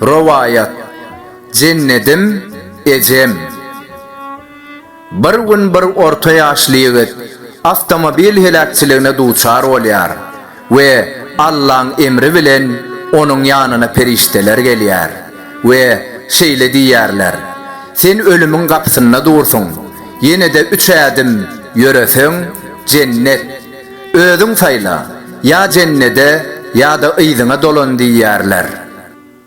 Rowaýat Jennedim ejem. Bir gün bir orta ýaşly ýigit awtomobil heläkçiligine duçar bolýar. We Allaň emri bilen onuň ýanyna perişdeler gelýär we şeýle diýýärler, Sen ölümiň gapysynda dursuň, ýene-de üç ädim ýöreseň, Jennet. Özüň saýla, ýa Jennede ýa-da yzyňa dolan diýýärler.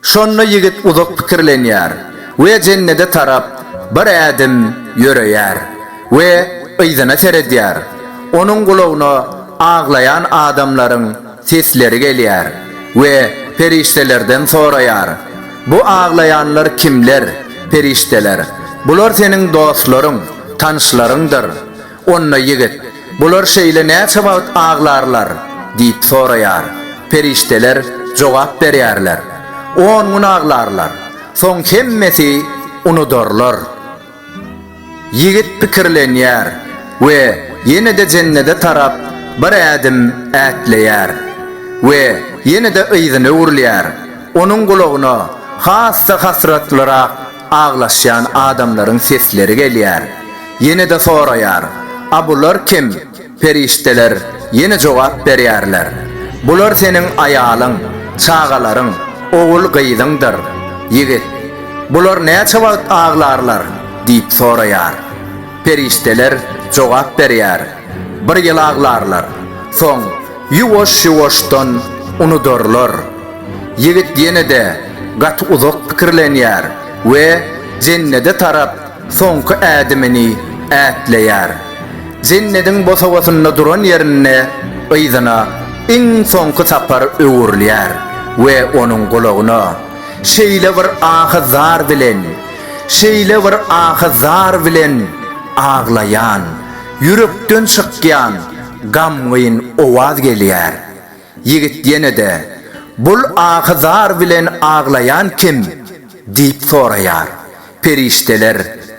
Şonda ýigit uzak pikirlenýär we jennede tarap bir ädim ýöreýär we yzyna seredýär. Onuň gulagyna aglaýan adamlaryň sesleri gelýär we perişdelerden soraýar, Bu aglaýanlar kimler? Perişdeler, Bular seniň dostlaryň, tanyşlaryňdyr. Onda ýigit, Bular şeýle näçe wagt aglarlar? diýip soraýar. Perişdeler jogap berýärler, On gün aglarlar. Soň hemmesi unudarlar. Ýigit pikirlenýär we ýene-de Jennede tarap bir ädim ätleýär we ýene-de yzyna öwrülýär. Onuň gulagyna has-da hasratlyrak Aglaşýan adamlaryň sesleri gelýär. Ýene-de soraýar, A bular kim? Perişdeler ýene jogap berýärler, Bular seniň aýalyň, çagalaryň, ogul-gyzyňdyr. Ýigit, Bular näçe wagt aglarlar? diýip soraýar. Perişdeler jogap berýär, Bir ýyl aglarlar. Soň Ýuwaş-ýuwaşdan unudarlar. Ýigit ýene-de gaty uzak pikirlenýär we Jennede tarap soňky ädimini ätleýär. Jennediň bosagasynda duran ýerinde yzyna iň soňky sapar öwrülýär we onuň gulagyna şeýle bir ahy-zar bilen, şeýle bir ahy-zar bilen aglaýan, ýürekden çykýan gamgyn owaz gelýär. Ýigit ýene-de, Bul ahy-zar bilen aglaýan kim? diýip soraýar. Perişdeler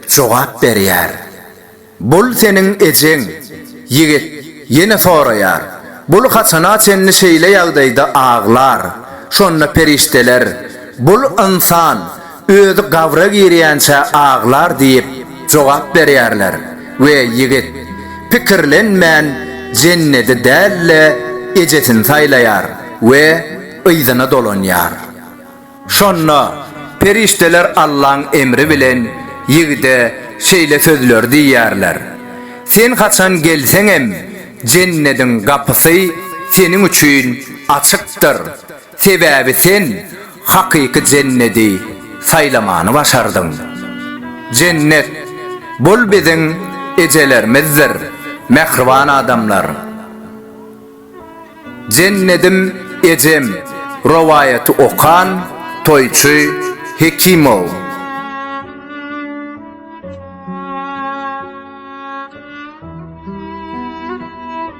jogap berýär. Bul seniň ejeň. Ýigit ýene soraýar, Bul haçana çenli şeýle ýagdaýda aglar? Şonda perişdeler, Bul ynsan, Özi gabra girýänçä aglar diýip jogap berýärler we ýigit, pikirlenmän, jennedi däl-de, ejesini saýlaýar we yzyna dolanýar. Şonda perişdeler Allaň emri bilen ýigide şeýle sözleri diýýärler, Sen haçan gelseňem, jennediň gapysy seniň üçin açykdyr, Sebäbi sen hakyky jennedi saýlamany başardyň. Jennet, bul biziň ejelerimizdir, mähriban adamlar. Jennedim ejem rowaýaty okan toýçy Hekimow.